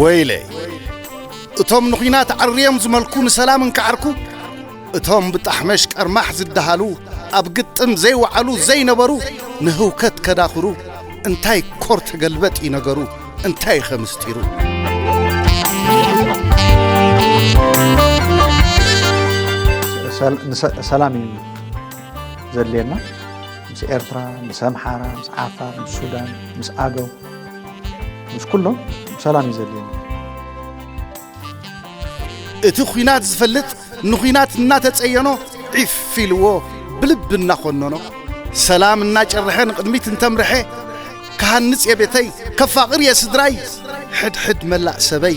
ወይለይ እቶም ንኹናት ዓርዮም ዝመልኩ ንሰላም እንከዓርኩ እቶም ብጣሕመሽ ቀርማሕ ዝደሃሉ ኣብ ግጥም ዘይወዓሉ ዘይነበሩ ንህውከት ከዳኽሩ እንታይ ኮር ተገልበጥ እዩ ነገሩ እንታይ ኸ ምስጢሩ ሰላም እዩ ዘድልየና ምስ ኤርትራ ምስ ኣምሓራ ምስ ዓፋር ምስ ሱዳን ምስ ኣገው ምስ ኩሎም ሰላም እዩ ዘድልየና እቲ ኲናት ዝፈልጥ ንኲናት እናተጸየኖ ዒፍ ኢልዎ ብልቢ እናኾነኖ ሰላም እናጨርሐ ንቕድሚት እንተምርሐ ክሃንጽ እየ ቤተይ ከፋቕር እየ ስድራይ ሕድሕድ መላእ ሰበይ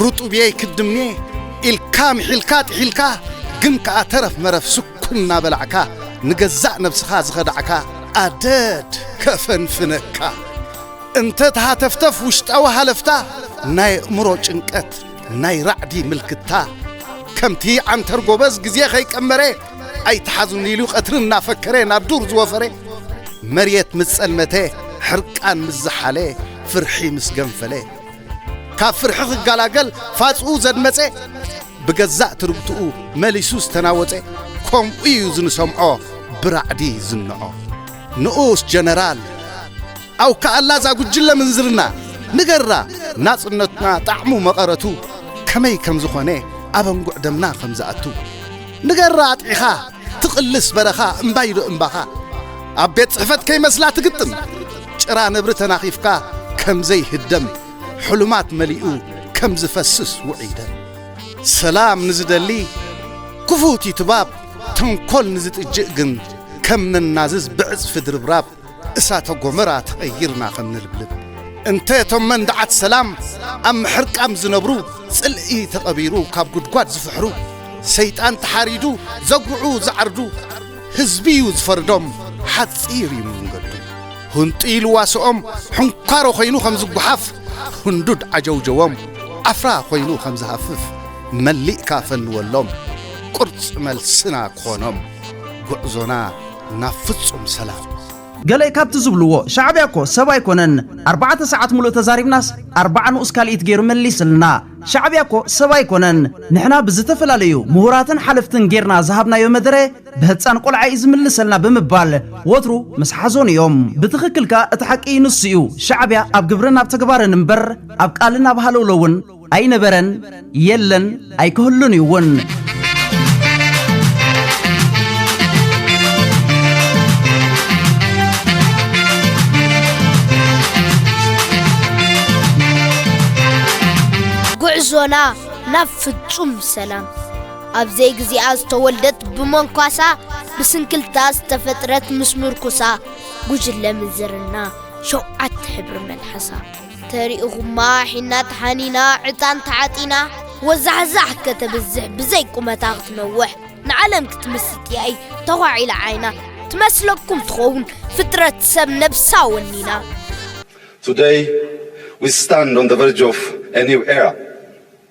ርጡብየይ ክድምየ ኢልካ ምሒልካ ጥሒልካ ግን ከኣ ተረፍ መረፍ ስኩም እናበላዕካ ንገዛእ ነብስኻ ዝኸዳዕካ ኣደድ ከፈንፍነካ እንተ ተሃተፍተፍ ውሽጣዊ ሃለፍታ ናይ ኣእምሮ ጭንቀት ናይ ራዕዲ ምልክታ ከምቲ ዓንተር ጎበዝ ግዜ ከይቀመረ ኣይትሓዙኒ ኢሉ ቀትሪ እናፈከረ ናብ ዱር ዝወፈረ መሬት ምስ ጸልመተ ሕርቃን ምስ ዝሓለ ፍርሒ ምስ ገንፈለ ካብ ፍርሒ ክገላገል ፋጽኡ ዘድመጸ ብገዛእ ትርግትኡ መሊሱ ዝተናወጸ ከምኡ እዩ ዝንሰምዖ ብራዕዲ ዝንዖ ንኡስ ጀነራል ኣው ከኣላ እዛ ጉጅለ ምንዝርና ንገራ ናጽነትና ጣዕሙ መቐረቱ ከመይ ከም ዝኾነ ኣበንጉዕ ደምና ከም ዝኣቱ ንገራ ኣጥዒኻ ትቕልስ በረኻ እምባይ ዶ እምባኻ ኣብ ቤት ጽሕፈት ከይመስላ ትግጥም ጭራ ነብሪ ተናኺፍካ ከም ዘይህደም ሕሉማት መሊኡ ከም ዝፈስስ ውዑይ ደም ሰላም ንዝደሊ ክፉት እዩ ትባብ ተንኮል ንዝጥጅእ ግን ከም ነናዝዝ ብዕጽፊ ድርብራብ እሳተ ጎመራ ተቐይርና ከም ንልብልብ እንተ እቶም መንድዓት ሰላም ኣብ ምሕርቃም ዝነብሩ ጽልኢ ተቐቢሩ ካብ ጉድጓድ ዝፍሕሩ ሰይጣን ተሓሪዱ ዘጉዑ ዝዓርዱ ህዝቢ እዩ ዝፈርዶም ሓጺር እዩ መንገዱ ሁንጢ ልዋስኦም ሕንኳሮ ኮይኑ ከም ዝጓሓፍ ህንዱድ ዓጀውጀዎም ዓፍራ ኮይኑ ከም ዝሃፍፍ መሊእካ ፈንወሎም ቁርጽ መልስና ክኾኖም ጉዕዞና ናብ ፍጹም ሰላም። ገለ ካብቲ ዝብልዎ ሻዕብያ እኮ ሰብ ኣይኮነን ኣርባዕተ ሰዓት ሙሉእ ተዛሪብናስ ኣርባዓ ንኡስ ካልኢት ጌሩ መሊስልና ሻዕብያ እኮ ሰብ ኣይኮነን ንሕና ብዝተፈላለዩ ሙሁራትን ሓለፍትን ጌርና ዝሃብናዮ መደረ ብህፃን ቆልዓ እዩ ዝምልሰልና ብምባል ወትሩ ምስ ሓዞን እዮም ብትኽክል ከኣ እቲ ሓቂ ንሱ እዩ ሻዕብያ ኣብ ግብርን ኣብ ተግባርን እምበር ኣብ ቃልን ኣብ ሃለውለውን ኣይነበረን የለን ኣይክህሉን እዩ እውን። ጉዕዞና ናብ ፍጹም ሰላም ኣብ ዘይግዚኣ ዝተወልደት ብመንኳሳ ብስንክልታ ዝተፈጥረት ምስ ምርኩሳ ጉጅለ ምንዝርና ሸውዓተ ሕብሪ መልሓሳ ተሪእኹማ ሒና ተሓኒና ዕጣን ተዓጢና ወዛሕዛሕ ከተብዝሕ ብዘይ ቁመታ ክትነውሕ ንዓለም ክትምስጥ ያይ ተዃዒላ ዓይና ትመስለኩም ትኸውን ፍጥረት ሰብ ነብሳ ወኒና Today we stand on the verge of a new era.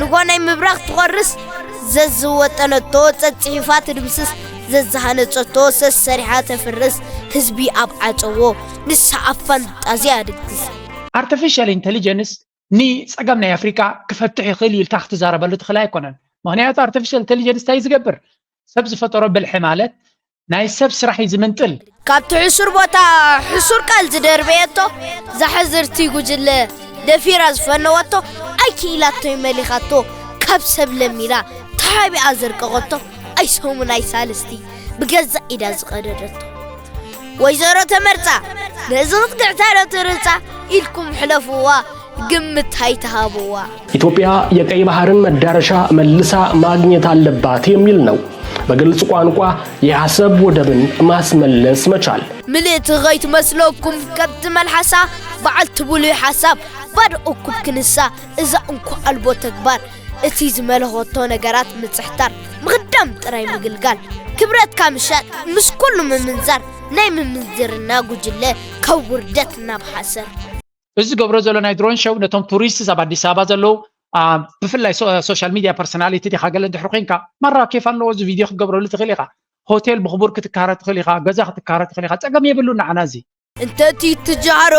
ንጓናይ ምብራኽ ትቖርስ ዘዝወጠነቶ ጸጽሒፋ ትድምስስ ዘዝሃነጸቶ ሰሰሪሓ ተፍርስ ህዝቢ ኣብ ዓጸዎ ንሳ ኣብ ፋንጣዝያ ድግስ። ኣርተፊሻል ኢንተሊጀንስ ንጸገም ናይ ኣፍሪቃ ክፈትሕ ይኽእል እዩ ኢልካ ክትዛረበሉ ትኽእል ኣይኮነን። ምኽንያቱ ኣርተፊሻል ኢንተሊጀንስ እንታይ እዩ ዝገብር? ሰብ ዝፈጠሮ ብልሒ ማለት ናይ ሰብ ስራሕ እዩ ዝምንጥል። ካብቲ ሕሱር ቦታ ሕሱር ቃል ዝደርበየቶ ዛሕዝርቲ ጉጅለ ደፊራ ዝፈነወቶ ኣይክኢላቶይ መሊኻቶ ካብ ሰብ ለሚና ተሓቢኣ ዘርቀቐቶ ኣይሰሙን ኣይሳልስቲ ብገዛእ ኢዳ ዝቐደደቶ ወይዘሮ ተመርፃ ነዚ ክትግዕታዶ ትርፃ ኢልኩም ሕለፍዋ ግምት ኣይትሃብዋ። ኢትዮጵያ የቀይ ባህርን መዳረሻ መልሳ ማግኘት አለባት የሚል ነው። በግልጽ ቋንቋ የአሰብ ወደብን ማስመለስ መቻል። ምልእቲ ከይትመስለኩም ከብቲ መልሓሳ በዓልቲ ብሉይ ሓሳብ ባዶ እኩብ ክንሳ እዛ እንኮ ኣልቦ ተግባር እቲ ዝመለኸቶ ነገራት ምጽሕታር ምኽዳም ጥራይ ምግልጋል ክብረትካ ምሻጥ ምስ ኩሉ ምምንዛር ናይ ምምንዝርና ጉጅለ ካብ ውርደት ናብ ሓሰር እዚ ዝገብሮ ዘሎ ናይ ድሮን ሸው ነቶም ቱሪስትስ ኣብ ኣዲስ ኣበባ ዘለዉ ብፍላይ ሶሻል ሚድያ ፐርሶናሊቲ ዲኻ ገለ ድሕሪ ኮንካ ማራ ኬፍ ኣለዎ እዚ ቪድዮ ክትገብረሉ ትኽእል ኢኻ ሆቴል ብኽቡር ክትካረ ትኽእል ኢኻ ገዛ ክትካረ ትኽእል ኢኻ ፀገም የብሉ ንዓና እዚ እንተቲ ትጃሮ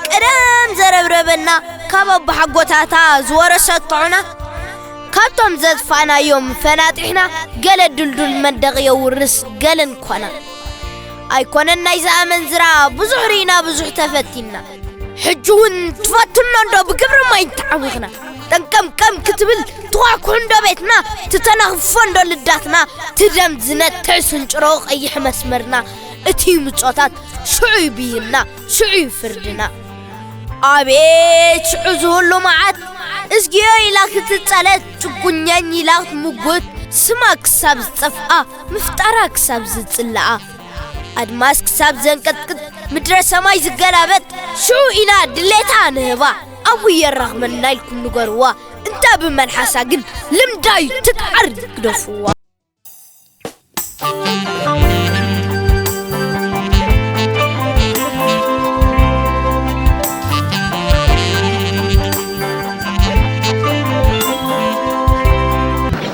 ቀደም ዘረብረበና ካብ ኣቦሓጎታታ ዝወረሰት ጥዑና ካብቶም ዘጥፋእናዮም ፈናጢሕና ገለ ድልዱል መንደቕ የውርስ ገለን ኮና ኣይኮነን ናይዚ ኣመንዝራ ብዙሕ ርኢና ብዙሕ ተፈቲና ሕጂ እውን ትፈትኖ እንዶ ብግብሪ ማይ ተዓዊኽና ጠንቀምቀም ክትብል ትኳኩሕ እንዶ ቤትና ትተናኽፎ እንዶ ልዳትና ትደም ዝነትዕ ስንጭሮ ቀይሕ መስመርና እቲ ምጾታት ሽዑ እዩ ብይንና ሽዑ እዩ ፍርድና ኣቤት ሽዑ ዝህሉ መዓት እዝግዮ ኢላ ክትጸለት ጭጉኛኝ ኢላ ክትምጉት ስማ ክሳብ ዝጠፍኣ ምፍጣራ ክሳብ ዝጽላኣ ኣድማስ ክሳብ ዘንቀጥቅጥ ምድረ ሰማይ ዝገላበጥ ሽዑ ኢና ድሌታ ንህባ ኣብኡ የራኽበና ኢልኩም ንገርዋ እንተ ብመልሓሳ ግን ልምዳዩ ትቃር ግደፍዋ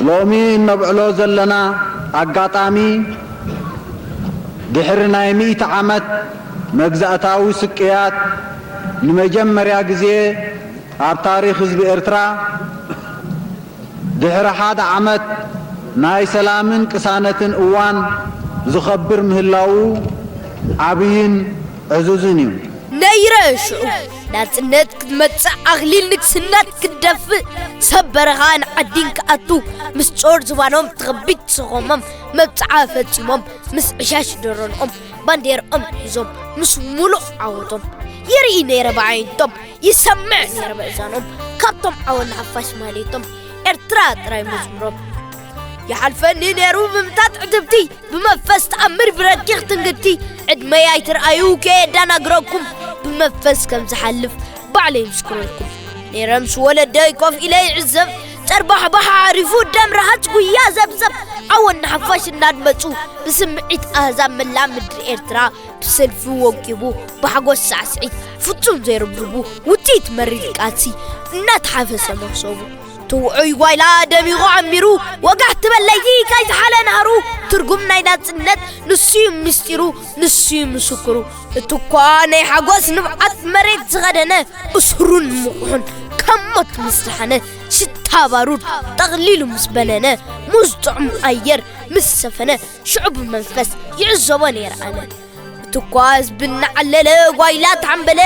ሎሚ እነብዕሎ ዘለና ኣጋጣሚ ድሕሪ ናይ ሚእቲ ዓመት መግዛእታዊ ስቅያት ንመጀመርያ ግዜ ኣብ ታሪኽ ህዝቢ ኤርትራ ድሕሪ ሓደ ዓመት ናይ ሰላምን ቅሳነትን እዋን ዝኸብር ምህላዉ ዓብይን ዕዙዝን እዩ። ነይረ ሽዑ ናጽነት ክትመጽእ ኣኽሊል ንግስነት ክትደፍእ ሰብ በረኻ ንዓዲን ክኣቱ ምስ ጾር ዝባኖም ትኸቢድ ሰኾሞም መብጽዓ ፈጺሞም ምስ ዕሻሽ ደረንኦም ባንዴርኦም ሒዞም ምስ ሙሉእ ዓወቶም ይርኢ ነይረ ብዓይንቶም ይሰምዕ ነይረ ብእዛኖም ካብቶም ዓወን ሓፋሽ ማሌቶም ኤርትራ ጥራይ መዝሙሮም ይሓልፈኒ ነይሩ ብምታት ዕትብቲ ብመንፈስ ተኣምር ብረቂቕ ትንግቲ ዕድመይ ኣይትርኣዩ ከየዳናግረኩም ብመንፈስ ከም ዝሓልፍ ባዕለይ ምስክረልኩም ነይረ ምስ ወለደይ ኮፍ ኢለ ይዕዘብ ጨርባሕባሕ ኣዕሪፉ ደም ረሃጅ ጉያ ዘብዘብ ዓወን ንሓፋሽ እናድመፁ ብስምዒት ኣህዛብ መላእ ምድሪ ኤርትራ ብሰልፊ ወቂቡ ብሓጎስ ሳዕስዒት ፍጹም ዘይርብርቡ ውፅኢት መሪር ቃልሲ እናተሓፈሰ መኽሰቡ ትውዑይ ጓይላ ደሚቑ ዓሚሩ ወጋሕ ትበል ለይቲ ከይዝሓለ ናህሩ ትርጉም ናይ ናጽነት ንሱዩ ምስጢሩ ንሱዩ ምስክሩ እቱኳ ናይ ሓጎስ ንብዓት መሬት ዝኸደነ እሱሩን ምቑሑን ካብ ሞት ምስ ዝሓነ ሽታ ባሩድ ጠቕሊሉ ምስ በነነ ሙዝ ጥዑም ኣየር ምስ ሰፈነ ሽዑ ብመንፈስ ይዕዘቦ ነይረ ኣነ እቱኳ ህዝቢ እናዓለለ ጓይላ ተሓምበለ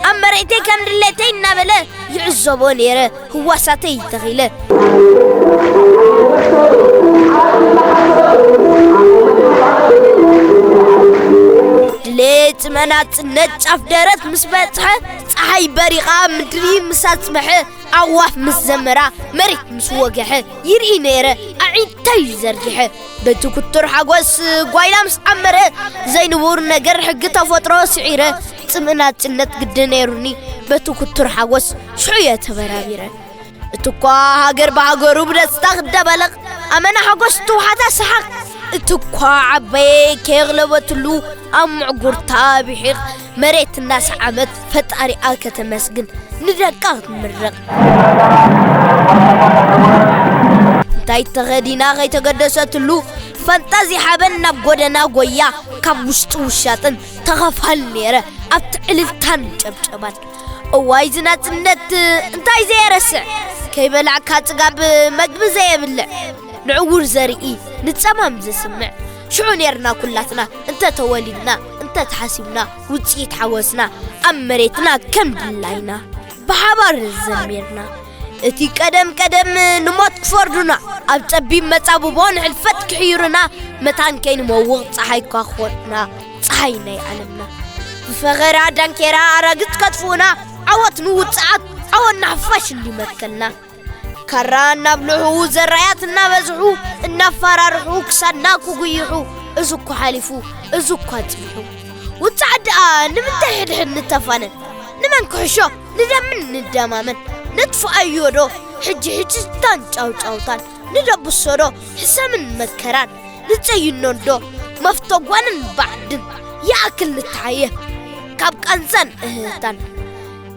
ኣብ መሬተይ ከም ድሌተይ እናበለ ይዕዘቦ ነይረ ህዋሳተይ ተኺለ። ድሌት መናጽነት ጫፍ ደረት ምስ በጽሐ ፀሓይ በሪቓ ምድሪ ምስ ኣጽበሐ ኣዋፍ ምስ ዘመራ መሬት ምስ ወገሐ ይርኢ ነይረ ኣዒንተይ ዘርጊሐ በቲ ኩቱር ሓጎስ ጓይላ ምስ ዓመረ ዘይንቡር ነገር ሕጊ ተፈጥሮ ስዒረ ጽምኢ ናጽነት ግዲ ነይሩኒ በቲ ኩቱር ሓጎስ ሽዑ እየ ተበራቢረ እቲ እኳ ሃገር ብሃገሩ ብደስታ ክደበለቕ ኣመና ሓጎስ ትውሓታ ሰሓቕ እቲ እኳ ዓበየ ከየቕለበትሉ ኣብ ምዕጉርታ ብሒቕ መሬት እናሰዓበት ፈጣሪኣ ከተመስግን ንደቃ ክትምርቕ እንታይ ተኸዲና ከይተገደሰትሉ ፈንጣዚ ሓበን ናብ ጎደና ጎያ ካብ ውሽጢ ውሻጥን ተኻፋሊ ነይረ ኣብቲ ዕልልታን ጨብጨባን እዋይ ዝናጽነት እንታይ ዘየረስዕ ከይበላዕካ ጽጋብ መግቢ ዘየብልዕ ንዕውር ዘርኢ ንጸማም ዝስምዕ ሽዑ ነርና ኩላትና እንተ ተወሊድና እንተ ተሓሲብና ውጽኢት ሓወስና ኣብ መሬትና ከም ድላይና ብሓባር ዘሚርና እቲ ቀደም ቀደም ንሞት ክፈርዱና ኣብ ጸቢብ መጻብቦ ንሕልፈት ክሕይሩና መታን ከይንመውቕ ፀሓይ እኳ ክኾንና ፀሓይ ናይ ዓለምና ብፈኸራ ዳንኬራ ኣራግጽ ከጥፍኡና ዓወት ንውጽዓት ዓወት ንሓፋሽ እንዲመትከልና ካራ እናብልዑ ዘራያት እናበዝሑ እናፋራርሑ ክሳድና ክጉይሑ እዚ እኳ ሓሊፉ እዚ እኳ ጽቢሑ ውፃዕ ደኣ ንምንታይ ሕድሕድ ንተፋነን ንመን ክሕሾ ንደምን ንደማመን ነጥፍኣዮ ዶ ሕጂ ሕጅታን ጫውጫውታን ንደብሶ ዶ ሕሰምን መከራን ንጸይኖ ዶ መፍተጓንን ባዕድን ይኣክል ንተሓየ ካብ ቃንዛን እህህታን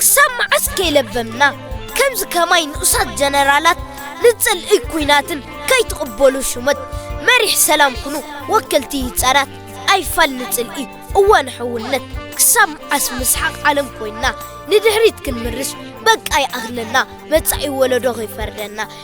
ክሳብ መዓስ ከይለበምና ከምዚ ከማይ ንኡሳት ጀነራላት ንጽልኢ ኩናትን ከይትቕበሉ ሹመት መሪሕ ሰላም ኩኑ ወከልቲ ይጻራት ኣይፋል ንጽልኢ እወ ንሕውነት ክሳብ መዓስ ምስሓቕ ዓለም ኮይንና ንድሕሪት ክንምርሽ በቃ ይኣኽለና መጻኢ ወለዶ ከይፈርደና